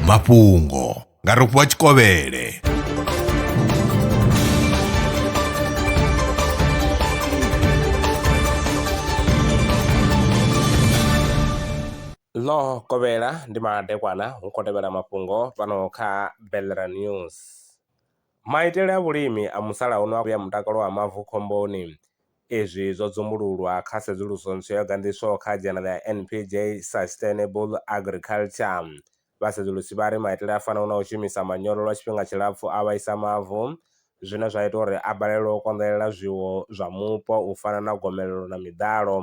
mafhungo nga rofhiwa tshikovhele ḽo kovhela ndi madekwana hu khou tevhela mafhungo fhano kha belera news Maitele a vhulimi a musalauno a vhea mutakalo wa mavu khomboni. Izwi zwo dzumbululwa kha sedzuluso ntswa yo ganḓiswaho kha dzhanele ya NPJ Sustainable Agriculture. Vhasedzulusi vha ri maitele a fanaho na u shumisa manyoro lwa tshifhinga tshilapfu a vhaisa mavu, zwine zwa ita uri a balelwe u konḓelela zwiwo zwa mupo u fana na gomelelo na miḓalo.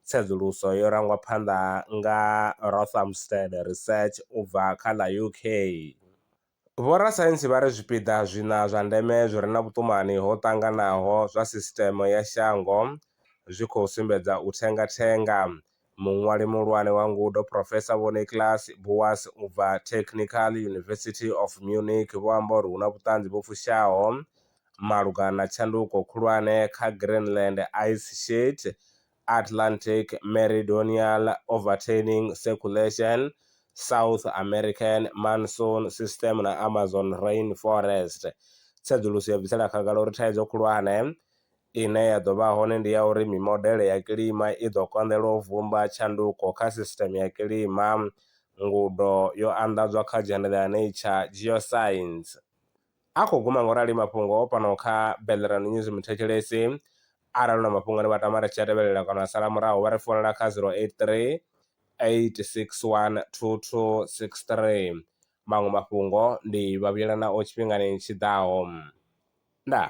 Tsedzuluso yo rangwa phanḓa nga Rothamsted Research u bva kha ḽa UK. Vhorasaintsi vha ri zwipiḓa zwiṋa zwa ndeme zwi re na vhuṱumani ho ṱanganaho zwa sisiṱeme ya shango zwi khou sumbedza u thenga-thenga. Muṅwali muhulwane wa ngudo, Profesa Vho Niklas Buas u bva Technical University of Munich vho amba uri hu na vhuṱanzi vhu fushaho malugana na tshanduko khulwane kha Greenland ice sheet Atlantic Meridional Overturning Circulation, South American Monsoon System na Amazon Rainforest. Tsedzuluso yo bvisela khagala uri thaidzo khulwane ine ya ḓo vha hone ndi ya uri mimodele ya kilima i ḓo konḓelwa u vhumba tshanduko kha sisiteme ya kilima. Ngudo yo anḓadzwa kha dzhendedza ya Nature Geoscience. A khou guma nga u rali mafhungo fhano kha Bellerano News Muthetshelesi arali u na mafhungo ane wa tama ri tshi a tevhelela kana wa sala murahu vha ri founela kha 0838612263. Maṅwe mafhungo ndi vha vhuyela nao tshifhingani tshi ḓaho. Ndaa.